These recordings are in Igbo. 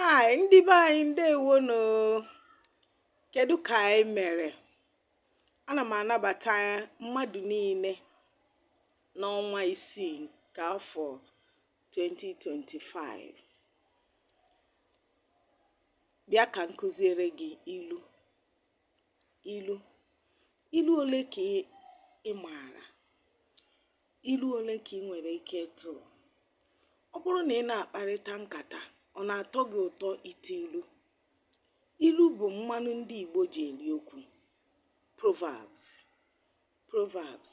Hi, ndị be anyị ndewo nụ. Kedu ka anyị mere? Ana m anabata mmadụ niile n'ọnwa isii nke afọ 2025. Bịa ka m kụziere gị ilu. ilu ilu ole ka ị maara ilu ole ka ị nwere ike ịtụ ọ bụrụ na ị na-akparịta nkata ọ na-atọ gị ụtọ ịtụ ilu ilu bụ mmanụ ndị Igbo ji eri okwu proverbs proverbs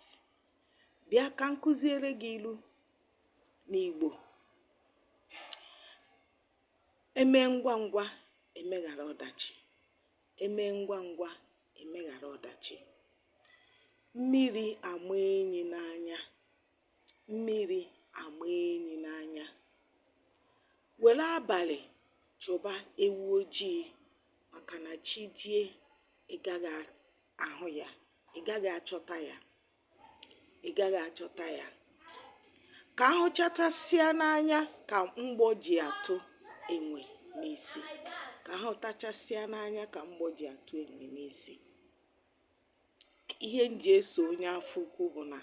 bịa ka m kụziere gị ilu n'Igbo emee ngwa ngwa emeghara ọdachi emee ngwa ngwa emeghara ọdachi mmiri ama enyi n'anya mmiri ama enyi n'anya were abalị chụba ewu ojii maka na chi jie ị gaghị ahụ ya ị gaghị achọta ya ị gaghị achọta ya ka a hụchatasịa n'anya ka mgbọ ji atụ enwe n'isi ka a hụtachasịa n'anya ka mgbọ ji atụ enwe n'isi ihe m ji eso onye afọ ukwu bụ na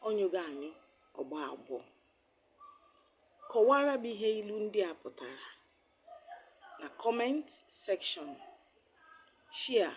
ọ nyụghị anyụ ọ gbọọ agbọ kọwara m ihe ilu ndị a pụtara na comment section share